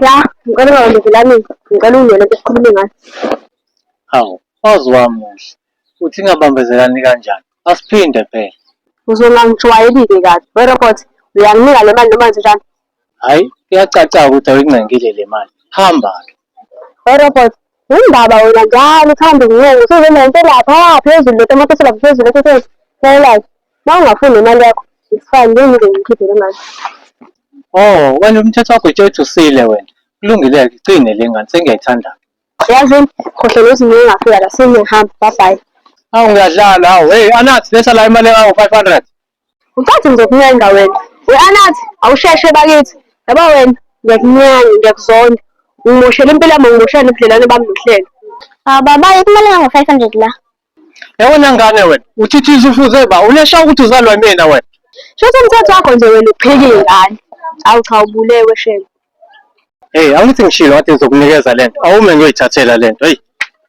Ya, ngicela ungalandezelani, ngicela ungene ke sikhulume ngayo. Hawu, waze wamuhle. Uthi ingabambezelani kanjani? Asiphinde phela. Uzongangijwayeli-ke kabi. Werobot, uyanginika le mali noma njenjani? Hhayi, kuyacaca-ke ukuthi awuyingcengile le mali. Hamba-ke. Orobot, Yindaba wena njalo uthanda ukuncenga usuzona into lapha phezulu lotamatisi lapha phezulu esesesi. Laylazi, Mawungafuni nemali yakho, it's fine, ngeke ngize ngikhiphe le mali. Oh, wena umthetho wakho tshwethu usile wena. Kulungile-ke igcine le ngane sengiyayithanda-ke. Yazini, Khohlwa nokuthi ngeke ngafika la, sengiyahamba, bye bye. Awu ngiyadlala, awu hey Anathi letha la imali engango-500. Ngicathi ngizokuncenga wena. We-Anathi, awusheshe bakithi. Yabo wena, ngiyakunyanya, ngiyakuzonda. Ungimoshele impilo yami, ungimoshela nobudlelwane bami nohlelo. Hawu baba, imali engango-500 la. Yabona ngane wena, uthithiza ufuze ba, uneshawa ukuthi uzalwa imina wena. Shuthi umthetho wakho nje wena ukuphika iy'ngane. Awu cha ubulewe shame. Hey, angithi ngishilo kade ngizokunikeza lento. Awume ngiyoyithathela lento. Hey.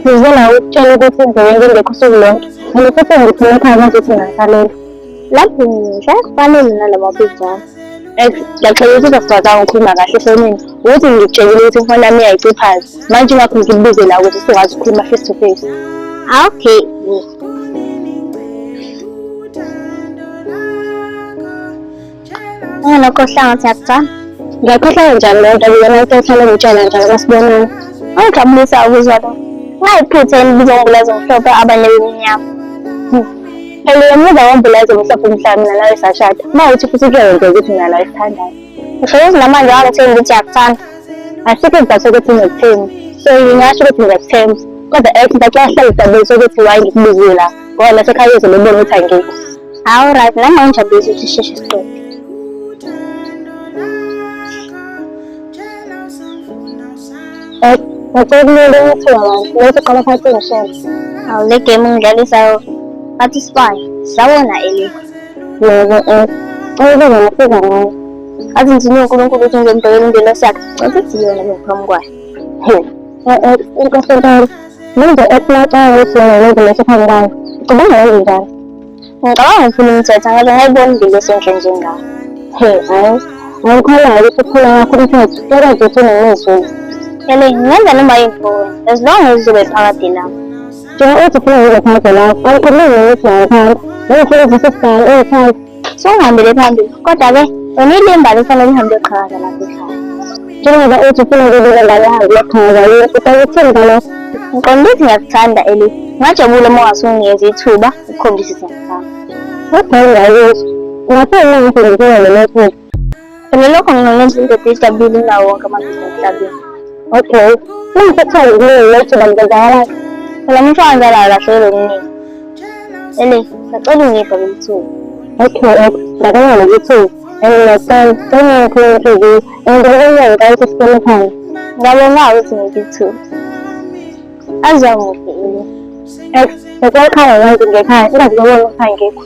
ngize nawe ukutshela ukuthi indlela engingekho usuku lonke mina futhi ngiphume ekhaya manje ukuthi ngingasaleli lapho ngisha fanele nalaba pijama laxela ukuthi uzokwazi angikhuluma kahle efonini ukuthi ngitshekile ukuthi ifoni yami iyayiciphaza manje ingakho ngikubize la ukuthi usukwazi ukukhuluma face to face ah, okay Ngalo kohlanga siyakutha. Ngiyakhohlwa njalo lento ngiyona into ehlale ngitshela njalo masibonana. Angijabulisa ukuzwa lokho. Ngayiphutha elibiza umbulazi omhlophe abanye bemnyama. Phela emuva kombulazi omhlophe mhlawumbe mina nawe sashada. Uma uthi futhi kuyenzeka ukuthi mina nawe sithandane. Ngisho ukuthi namanje wangathini ukuthi yakuthanda. Asikho isizathu sokuthi ngikuthini. So ngingasho ukuthi ngiyakuthemba. Kodwa ethi ngiyakuhlala ukuthi why ngikubizile lapha. ngoba nasekhaya uzobe ubona ukuthi angikho hawu right nami angijabulisa ukuthi sheshe siqede eh, ngicela ukulele ukuthi abantu lethi qala phansi ngishele hawu le game ngidlalisayo athi spy sawona eli yebo eh cela ngifika ngayo athi ngithini uNkulunkulu ukuthi ngizomdokela ingelosi yakhe ngicela ukuthi yona ngiphambi kwayo eh eh inkosi Manje esinacanga ukuthi yena yonke lento phambi kwami. Ngicabanga nami njalo. Ngicabanga ngifuna umthetha ngoba ngayibona impilo esenhle njengami. He, hayi. Angikholanga ukuthi ukhona wakho umthetho. Kodwa nje uthini ngizulu. Ele, ngenza noma yini kuwe. As long as uzobe phakade lapho. Njengoba uthi ufuna ngizophakade lapho. Angikhulumi nokuthi ngangiphansi. Nangifuna ukuthi sisibhale, ungithanda. singihambele phambili kodwa-ke lona ilimbali kufanele lihambe liyoqhakaza lapho ekhaya njengoba uthi ufuna ukubika ngane yangu yoqhakaza yini usakuthini ngalokho ngiqonda ukuthi ngiyakuthanda eli ngajabula uma ungasunginikeza ithuba ukukhombisa isimo sami kodwa ingayizwa ngaphandle ngifundisile namathupha Phela lokho ngingalenza indoda idabile nawo wonke amadoda emhlabeni. Okay. Ningiphethe ngokuningi lethu bantu benzakalani? Phela umuntu wangala kahle lokuningi. Ele, sacela ungipha lelithuba. Okay, okay. Ndakala lelithuba. Enginasana, sengikhuluma inhliziyo. Engikwenza ngikayisa isikhulu khona. Ngabona ukuthi ngilithuba. Azamuphi ini? Ex, ngikwakhaya manje ngekhaya. Ingazibona ukhaya ngekho.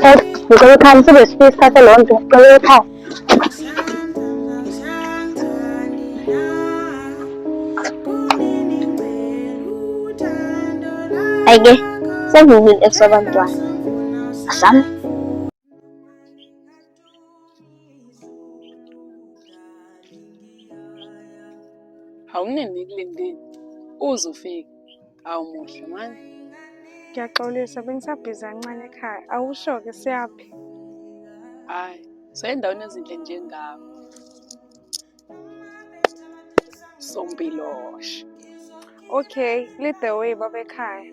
Eh, ngicela ekhaya msibe sifisa isikhathi leyo nto ngicela ekhaya ayike sengiwile esobantwana asami awunini kulendini uze ufike awumuhle manje ngiyaxolisa bengisabhizi kancane ekhaya awusho-ke siyaphi hhayi soyendaweni ezinhle njengawo sompiloshe okay lead the way babekhaya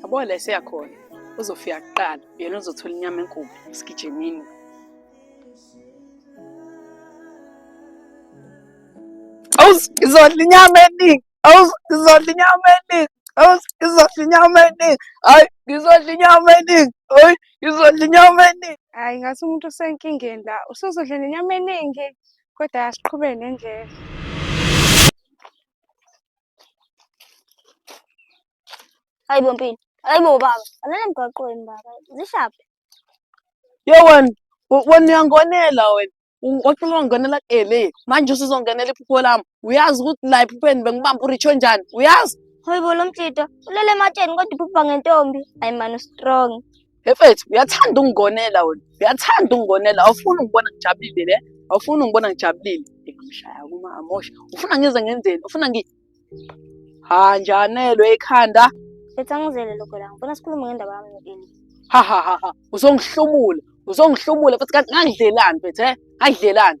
Yabo la eseyakhona uzofika kuqala yena uzothola inyama enkulu esigijimini awuzizodla inyama eningi awuzizodla inyama eningi awuzizodla inyama eningi hayi ngizodla inyama eningi hayi ngizodla inyama eningi hayi ngathi umuntu usenkingeni la usuzodla nenyama eningi kodwa asiqhube nendlela hayi bo mpilo hayi bo baba alala emgwaqweni baba zishaphe yo wena wena uyangonela wena wacela wangonela ele manje usuzongenela iphupho lami uyazi ukuthi la ephupheni bengibamba uritsho njani uyazi hayi bo lo mtshito ulele ematsheni kodwa uphupha ngentombi hayi mani ustrong Efethu uyathanda ungigonela wena. Uyathanda ungigonela. Awufuni ungibona ngijabulile le. Awufuni ungibona ngijabulile. Ngimshaya kuma amosha. Ufuna ngize ngenzeni? Ufuna ngi Ha njanelwe ekhanda. Ethi angizele lokho la. Ngifuna sikhulume ngendaba yami no-Eli. Ha ha ha ha. Uzongihlomula. Uzongihlomula futhi kanti ngangidlelani mfethu he? Ngangidlelani?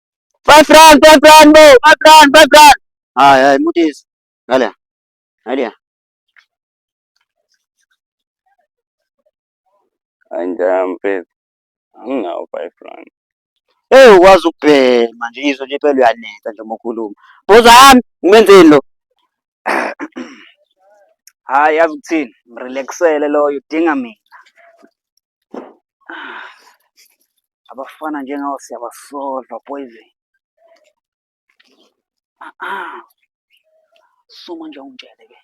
Five rand, five rand, bo, five rand, five rand. Ay, ay, mutis. Dale. Dale. Anjampe. Anginawo five rand. Hey, ukwazi ukubhema nje izwe nje phela uyanetha nje uma ukhuluma. Boza yami, ngimenzeni lo? Hayi, yazi ukuthini? Mrelaxele loyo, udinga mina. Ah, abafana njengawo siyabasolva poison ah, ah. suma nje ungitshele ke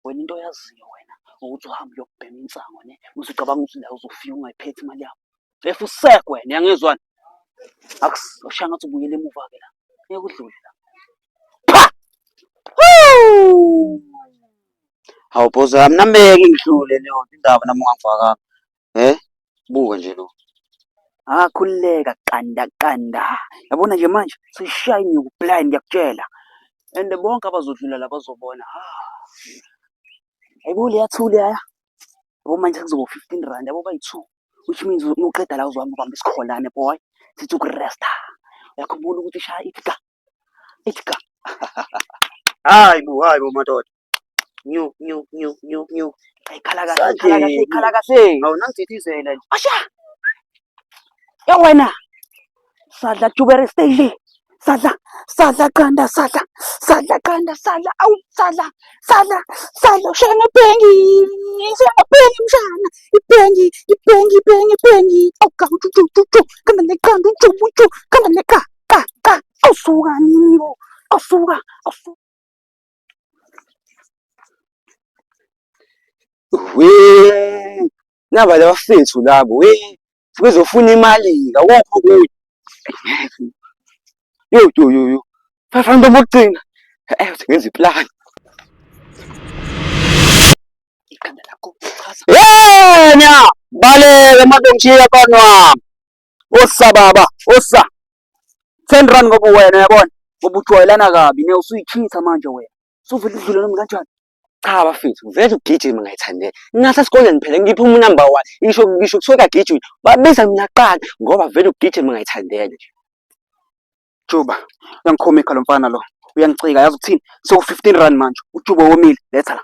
wena into oyaziyo wena ukuthi uhambe uyokubhema insango ne mase ucabanga ukuthi la uzofika ungayiphethi imali yakho efu usekwe wena yangizwani akushaya ngathi ubuyele emuva ke la ngeke udlule la Hawu boss wami nameke ngidlule leyo indaba nami ungangifakanga. Eh? Buka nje lo. Ah khululeka qanda qanda. Yabona nje manje sishaya inyuku blind ngiyakutshela. And bonke abazodlula la bazobona. Hayibo ah. leya thuli yaya. Yabo manje kuzoba 15 rand yabo bayi-2 which means uqeda la uzohamba ubamba isikholane boy sithi ukuresta. Uyakhumbula ukuthi ishaya ithi ka Itika. Hayi bo, hayi bo madoda. Nyu nyu nyu nyu nyu. Ikhala kahle, ikhala kahle, ikhala kahle. Awunangithithizela nje. Asha. Ya wena. Sadla tubere stage. Sadla, sadla qanda, sadla, sadla qanda, sadla, awu sadla, sadla, sadla, ushaya ngebhengi, ushaya ngebhengi mshana, ibhengi, ibhengi, ibhengi, ibhengi, awugawu, uju, uju, uju, khamba neqanda, uju, uju, khamba neqanda. Cha cha awusuka nini bo. Awusuka awusuka. We naba labafethu labo we bezofuna imali awukho kuyo. Yo yo yo yo. Bafana bokugcina. Eh ngenza iplan. Ikhanda lakho. Yena baleka madongiya kanwa. osa baba osa ten rand ngoba wena yabona ngoba ujwayelana kabi ne usuyitshitha manje wena suvele udlule nomi kanjani cha bafethu vele ugijima ngayithandela ngase sikoleni phela ngiphi umu number one isho ngisho kuthiwa kagijima babiza mina qala ngoba vele ugijima ngayithandela nje juba uyangikhomikha lo mfana lo uyangicika yazi ukuthini sewu-fifteen rand manje ujuba womile letha la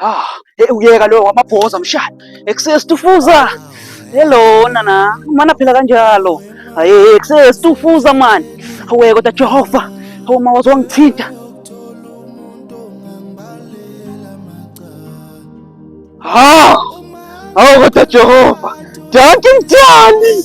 Ah, hey uyeka lo wamabhoza mshana. Excess tufuza. Hello nana, mana phela kanjalo. Hayi excess tufuza man. Hawe kodwa Jehova. Hawu uma wazongithinta. Ah! Hawu kodwa Jehova. Dankie mthandi.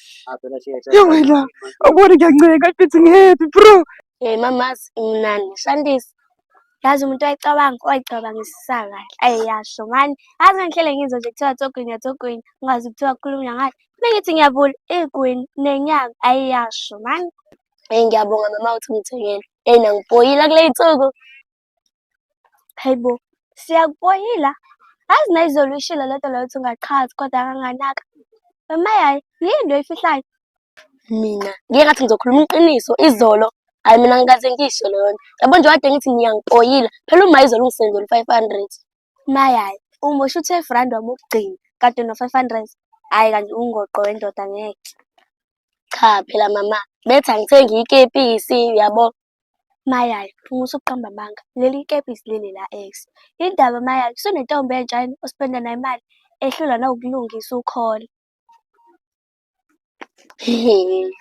Yo wena, awuboni ngiyanceka mfethu ngihappy bro. Hey mamazi imnandi ngishandisa. Yazi umuntu wayicabanga wayicabangisisa kahle. Ayi yasho ngani. Yazi ngihlele ngizwe nje kuthiwa togwinya togwinya. Ungazi kuthiwa kukhulunywa ngathi. Bengithi ngiyavula igwini nenyanga ayi yasho mani. Hey ngiyabonga mama uthi ungithengele. Hey nangipoyila kuley'nsuku. Hayi bo, siyakuboyila. Azi nayizolo uyishilo le nto leyo ukuthi ungachazi kodwa kanganaka. Mama yayi, yini into oyifihlayo? Mina, ngike ngathi ngizokhuluma iqiniso izolo. Hhayi mina ngikaze ngiyisho leyo nto. Yabo nje wade ngithi niyangipoyila. Phela uma izolo ungisendele u-five hundred. Mayayi, umosha u-twelve rand wami wokugcina kade no-five hundred. Hhayi kanti ungoqo wendoda ngeke. Cha phela mama, bethi angithenge ikepisi yabo. Mayali, phuma usuqamba amanga. Leli ikepisi leli la ex. Yini ndaba Mayali, usunentombi entsha yini ospenda nayo imali? Ehlulwa nawukulungisa ukhole.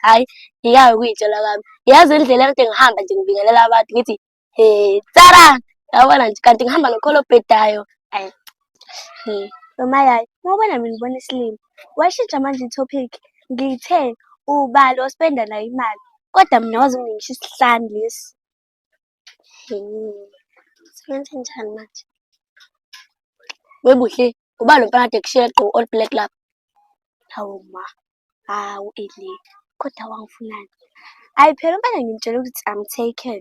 Hhayi, ngiyake ukuyitshela kwami. Yazi indlela ekade ngihamba nje ngibingelela abantu ngithi, he, tsara! Yabona nje, kanti ngihamba nokholo obhedayo. Ayi, He, noma yayi, ngokubona mina ngibona isilima. Washintsha manje i-topic, ngithe ubani ospenda naye imali, kodwa mina waze ungingisha isihlani lesi. He, senze njani manje? Webuhle, ubani lomfana kade ekushiye egqoke all black lapha? Hawu ma. Hawu Eli, kodwa wangifunani? Hayi phela impela ngimtshela ukuthi I'm taken.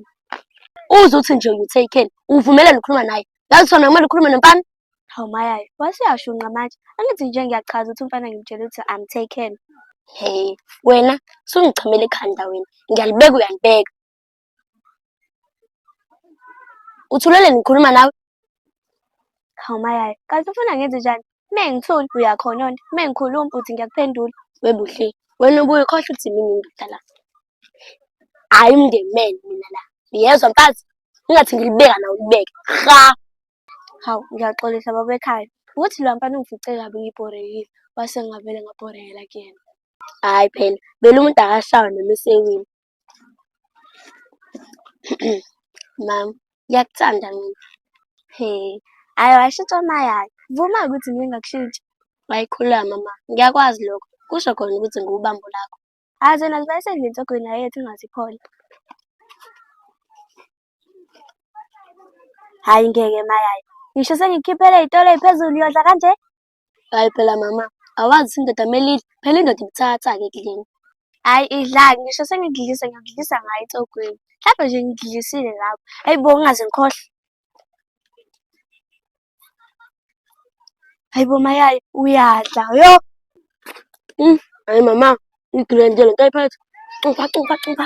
Uze uthi nje you taken, uvumelele ukukhuluma naye. Yazi sona kumele ukhulume nomfana. Hawu mayayo, wasuyashunqa manje. Angithi nje ngiyachaza ukuthi umfana ngimtshela ukuthi I'm taken. Hey, wena sungichamela ekhanda wena. Ngiyalibeka uyalibeka. uthulele ngikhuluma nawe hawu mayaye kanti ufuna ngenze njani me ngithule uyakhononda me ngikhuluma uthi ngiyakuphendula webuhle wena ubuye ukhohlwa ukuthi mina indoda la hayi umndeni men mina la ngiyezwa mfazi ungathi ngilibeka nawe ulibeke ha hawu ngiyaxolisa baba ekhaya ukuthi lo mfana ungifice kabi ngibhorekile wase ngavele ngabhorekela kuyena hhayi phela vele umuntu akashawe noma esewini Mam, ngiyakuthanda mina. He, hhayi washitsha mayala. Vuma ukuthi ngike ngakushitsha. Wayikhulula mama, ngiyakwazi lokho. Kusho khona ukuthi ngiwubambo lakho. Hhayi zona ziba esendlini nsogwini yayethu ingaziphola. Hhayi ngeke mayala. Ngisho sengikukhiphele iy'tolo ey'phezulu uyodla kanje? Hayi phela mama, awazi indoda melidla, phela indoda ibuthatha-ke kuleni. Hhayi idlani, ngisho sengidlisa ngidlisa ngayo ecogweni. Hlampe nje ngidlisile lapho. Hhayi bo ngingaze ngikhohlwe. Hhayi bo mayaye uyadla yo. Mm, hayi mama, ngigilwe nje lento ayiphethe. Cupha, cupha, cupha.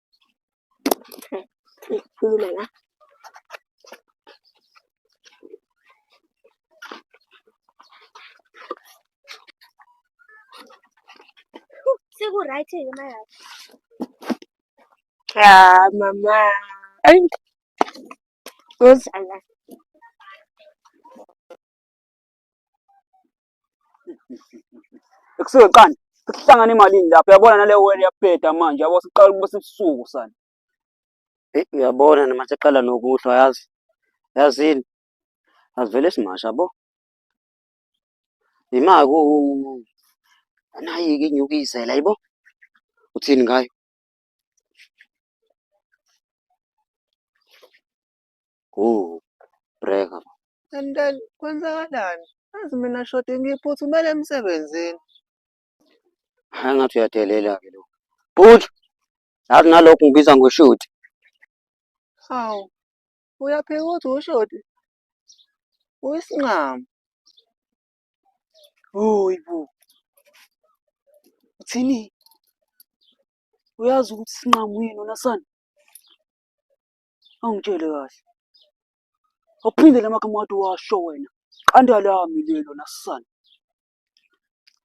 Ikhuluma la. Seku-right-ke manje. Ya mama. Ayi. Uzala. Ekusuke qani sihlangana emalini lapho yabona nale wele yabheda manje yabo siqala ukuba sibusuku sana. Hey, uyabona noma seqala nokuhlwa yazi. Yazini. Asivele simasha bo. Imali ku nayi ke inyukizela yibo. Uthini ngayo? kuwukubreka manje. And then kwenzakalani? Azi mina shoti ngiphuthumele emsebenzini. Hhayi ngathi uyadelela-ke lo. Bhuti, yazi nalokhu ngibiza ngoshoti. Hawu, uyaphika ukuthi ushoti? Uyisinqamu. Hoyi bo. Uthini? Uyazi ukuthi isinqamu yini wena sana? Angitshele kahle. Awuphinde la magama wathi washo wena. Qanda lami lelo nasisana.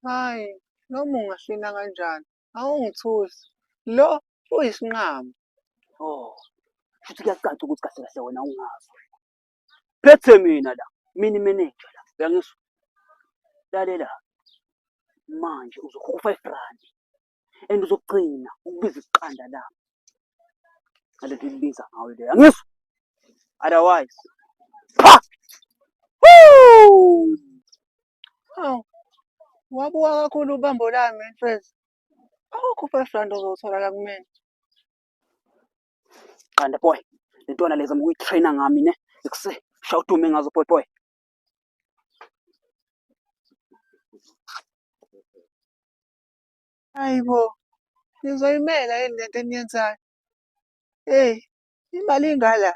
Hayi, noma ungahlina kanjani, awungithusi. Lo uyisinqamu. Oh. Futhi kuyacaca ukuthi kahle kahle wena ungazi. Phethe mina la. Mina manager la. Uyangizwa? Lalela. Manje uzokhokha u-5 rand. and uzogcina ukubiza iqanda lami ngale nto ilibiza ngayo leyo angizwa otherwise pha hawu wabuka kakhulu ubambo lami mfethu awukho five rand ozowuthola la kumina qanda boy le ntwana leza mukuyitraina ngami ne ekuse shawudume ngazo boy boy Hhayi bo, nizoyimela yini lento eniyenzayo? Eyi, imali ingala.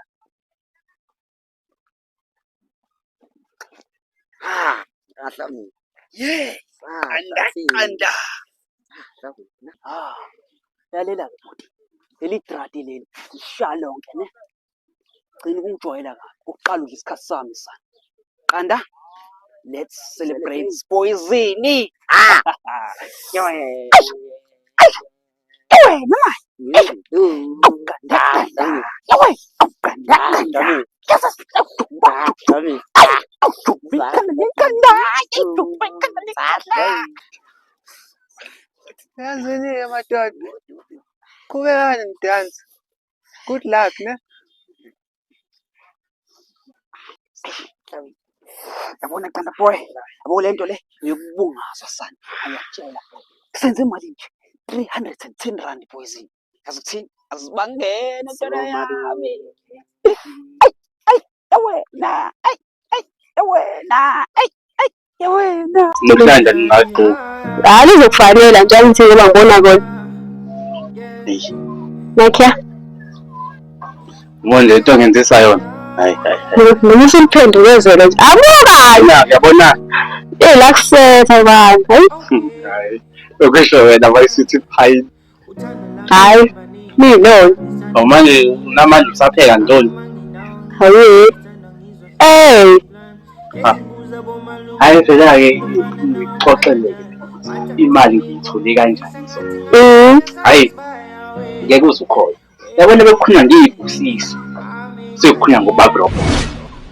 Ah, kahle mina. Yes, andaqanda. Ah, lalela bhuti. Leli trati leli, lisha lonke ne. gcina ukungijwayela kabi ukuqala udla isikhathi sami sana qanda let's celebrate poisini ah Tanzania, my dad. Come on, dance. Good luck, ne? Yabona qanda boy. Yabo le nto le uyokubungazwa sana. Ayakutshela. Senze imali nje. 310 rand boys. Yazi ukuthini? Azibangene ntwana yami. Ay, ay, yawena. Ay, ay, yawena. Ay, Yewena. Lokulanda ningaqo. Hayi lizokufanela nje angithi ngoba ngibona kona. Nakhya. Manje into ngenzisa yona. Hayi hayi. Mina usuliphendulezele nje. Abuka. Yabona. Eh la kusetha bani. Hayi. Ukusho wena bayisithi phayini. Hayi, niyintoni? Oh manje namanje usapheka ntoni? Hayi. Hey. Ah. Hayi phela ke ngixoxele imali ngiyithole kanjani so. Mhm. Hayi. Ngeke uzukhona. Yabona bekukhona ngiyibusisi. Sekukhona ngobabropo.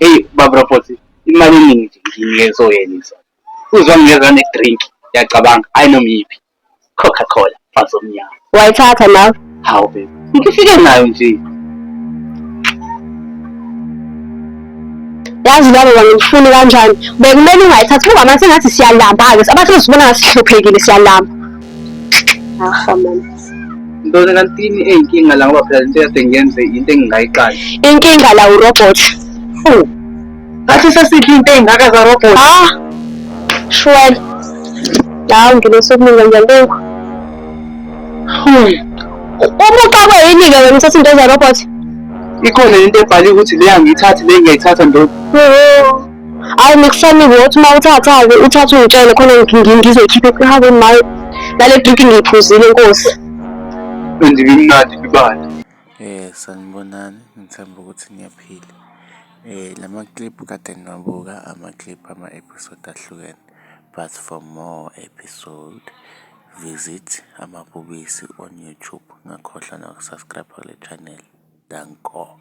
Hey babropo imali eningi nje ngiyinike so yena. Uzwa ngiyezwa ne drink yacabanga ayinoma yiphi. Coca Cola mfazi omnyama. Wayithatha nawe? Hawu baby. Ngifike nayo nje. Yazi baba wangifuni kanjani? Bekumele ungayithathi ngoba manje ngathi siyalamba ke. Abathi usibona ngasihluphekile siyalamba. Aha mama. Ntoni kantini eyinkinga la ngoba phela lento yase ngenze into engingayiqali. Inkinga la urobot. Fuh. ngathi sesiphi into ey'ngaka zarobhot ha ah, shwele lawo ngine sokuninga ngiyalenga hmm. umuqakwe yini-ke wena uthatha into zarobhot ikhona into ebhale ukuthi le angiyithathi le ngiyayithatha ndoda hayi nikufanike ukuthi uma uthatha-ke uthathe ungitshele khona ngizoyikhipha ekhahake maye nale driki ngiyiphuzile nkosi and bimnandi bibala um sanibonani ngithemba ukuthi ngiyaphila La makiliphu kade ngiwabuka amakiliphu ama-episode ahlukene but for more episode visit Amabhubesi on YouTube. Ungakhohlwa noku-subscribe-a kule chaneli. Danko.